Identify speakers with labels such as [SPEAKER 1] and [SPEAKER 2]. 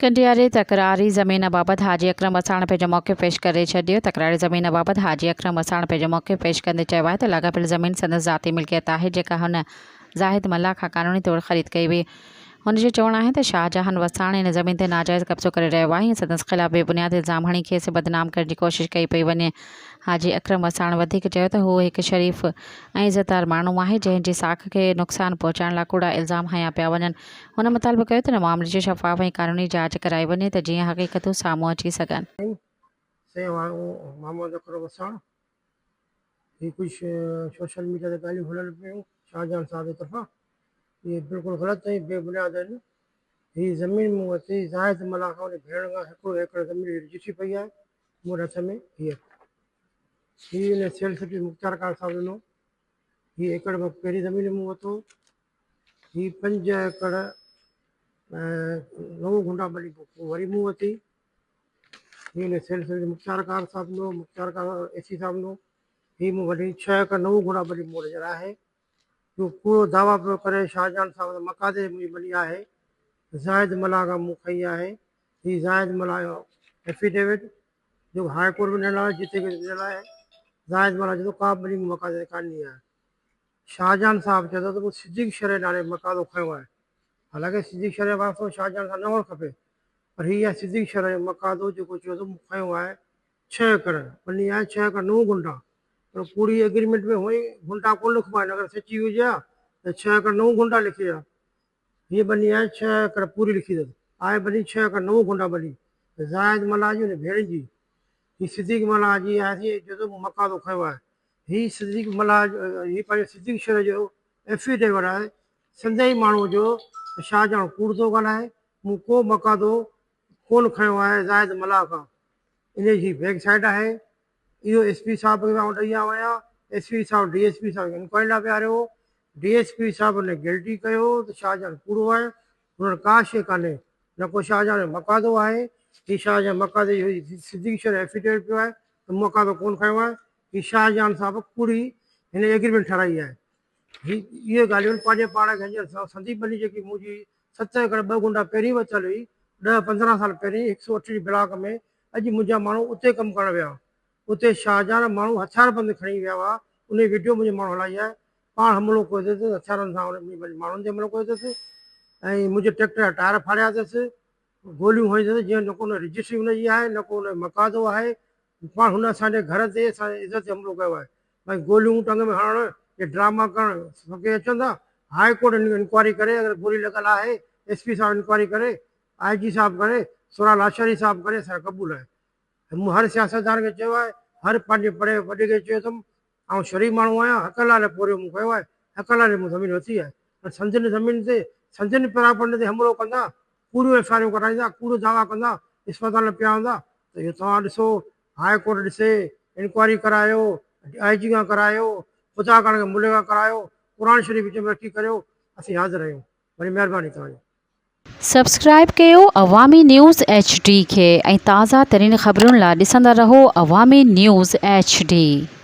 [SPEAKER 1] ڪنڊياري تڪراري زمين بابت حاجي اڪرم وساڻ پنهنجو موقف پيش ڪري ڇڏيو، تڪراري زمين بابت حاجي اڪرم وساڻ پنهنجو موقف پيش ڪندي چيو آهي ته لاڳاپيل زمين سندس ذاتي ملڪيت آهي جيڪا هن زاهد ملاح کان قانوني طور خريد ڪئي هئي، هن جو چوڻ آهي ته شاهجهان وساڻ ان زمين تي ناجائز قبضو ڪري رهيو آهي ۽ سندس خلاف بي بنياد الزام هڻي کيس بدنام ڪرڻ جي ڪوشش ڪئي پئي وڃي، حاجي اڪرم وساڻ وڌيڪ چيو ته هو هڪ شريف ۽ عزتدار ماڻهو آهي جنهن جي ساک کي نقصان پهچائڻ لاء ڪوڙا الزام هنيا پيا وڃن، هن مطالبو ڪيو ته ان معاملي جي شفاف ۽ قانوني جاچ ڪرائي وڃي ته جيئن حقيقتون سامهون اچي سگهن. سين وانگو
[SPEAKER 2] محمد اڪرم وساڻ هي ڪجهه سوشل ميڊيا تي ڳالهيون هلن پيون شاهجهان صاحب جي طرفان اهي بلڪل غلط ۽ بي بنياد آهن هي زمين مون وٽ هئي زاهد ملاح کان انهي ڀيڻ کان هيڪڙو ايڪڙ زمين هي رجسٽري پئي آهي مون وٽ هٿ ۾ هي هي انهي سيلس به مختيار ڪار صاحب ڏنو هي ايڪڙ مان پهرين زمين مون وتو هي پنج ايڪڙ نئون گهنڊا ٻلي پوء وري مون وتي. هي ان سلسلي جي مختيار ڪار صاحب نو مختيار ڪار اي سي صاحب نو هي مون وٽ ڇهه ايڪڙ نئون گهنڊا ٻلي مون وٽ هينئر آهي. جو ڪوڙو دعويٰ پيو ڪري شاهجهان صاحب ته مقادير منهنجي ٻلي آهي. زاهد ملاح کان مون کئي آهي. هي زاهد ملاح جو ائفيڊيوٽ جيڪو هاء ڪورٽ ۾ ڏنل آهي جتي ڪيس ڏنل آهي. زاهد ملاح چوي ٿو ڪابه ٻلي مون مقادير ڪانهي آهي. شاهجهان صاحب چئي ٿو ته مون صديق شريعي نالي مقالو کنيو آهي. حالانڪه صديق شريعي واسطو شاهجهان سان نه هئڻ کپي، پر هي آهي صديق شريعي مقادو جيڪو چيو ته مون کنيو آهي ڇهه ايڪڙ، ٻني آهن ڇهه ايڪڙ نو گهنٽا، پر ڪوڙي ايگريمينٽ ۾ هونئن گهنٽا ڪونه لکبا آهن، اگر سچي هجي ها ته ڇهه ايڪڙ نو گهنٽا لکي ها، هيء ٻني آهي ڇهه ايڪڙ پوري لکي اٿس. آهي ٻني ڇهه ايڪڙ نو گونڊا ٻني زاهد ملاح جي ان ڀيڻ جي. هي صديق ملاح جي آهي سين ايترو ته مون مقاضو کنيو آهي. هي صديق ملاح جو هي پنهنجي صديق شير جو ائفيڊيوٽ آهي. سندي ئي ماڻهوء جو ته شاهه جان ڪوڙ ٿو ڳالهائي. مون ڪو مقاضو ڪونه کنيو آهي زاهد ملاح کان. انهيء جي بيڪ سائيڊ آهي. اهو ايس پي صاحب کي آئون ڏئي آويان، ايس پي صاحب ڊي ايس پي صاحب کي انڪوائري لاء ويهاريو، ڊي ايس پي صاحب هن کي گلٽي ڪيو ته شاهجهان ڪوڙو آهي، هن وٽ ڪا شيء ڪانهي، نه ڪو شاهجهان جو مقادو آهي، هي شاهجهان مقادي جو هي صديقي شير ايفيڊيوٽ پيو آهي ته مون مقادو ڪونه کنيو آهي، هي شاهجهان صاحب ڪوڙي هن ايگريمينٽ ٺهرائي آهي. هي اهي ڳالهيون پنهنجي پاڻ کي هينئر سنديپ ملي جيڪي منهنجي ست ايڪڙ ٻه گنڊا پهرين ورتل هئي، ڏهه پندرهن سال پهرين هڪ سؤ اٺ جي بلاڪ ۾ اڄ منهنجا ماڻهو اتي ڪم ڪرڻ ويا اتي شاهجهان جا ماڻهو هٿيار بند کڻي ويا هئا ان جي وڊيو منهنجي ماڻهن هلائي آهي پاڻ حملو ڪيو اٿس هٿيارن سان انهن پنهنجي ماڻهن تي حملو ڪيو اٿس ۽ منهنجي ٽريڪٽر جا ٽائر ڦاڙيا اٿس گوليون هنيون اٿس جنهن نه ڪو رجسٽري ان جي آهي نه ڪو ان جو مقادو آهي پاڻ هن اسان جي گهر تي اسان جي عزت تي حملو ڪيو آهي ۽ گوليون ٽنگ ۾ هڻڻ يا ڊراما ڪرڻ سڀ ڪي اچن ٿا هاء ڪورٽ انڪوائري ڪري اگر گولي لڳل آهي ايس پي صاحب انڪوائري ڪري آء جي صاحب ڪري سورا لاشاري صاحب ڪري سارا قبول آهن مون هر سياستدان کي چيو آهي هر پنهنجي پڙهي وڏي کي چيو اٿم آئون شريف ماڻهو آهيان حق الله لاء پورهيو مون ڪيو آهي حق الله لاء مون زمين ورتي آهي پر سنڌين زمين تي سنڌين پراپرٽي تي حملو ڪندا ڪوڙيون ايف آر ايون ڪڍرائيندا ڪوڙو دعوا ڪندا اسپتال ۾ پيا هوندا ته اهو توهان ڏسو هاء ڪورٽ ڏسي انڪوائري ڪرايو آء جي کان ڪرايو خدا ڪرڻ کي ملي کان ڪرايو قرآن شريف وچ ۾ رکي ڪريو اسين حاضر آهيون وڏي مهرباني توهان جي. سبسڪرائيب
[SPEAKER 1] ڪيو عوامي نيوز ايڇ ڊي کي ۽ تازه ترين خبرن لا ڏسندا رهو عوامي نيوز ايڇ ڊي.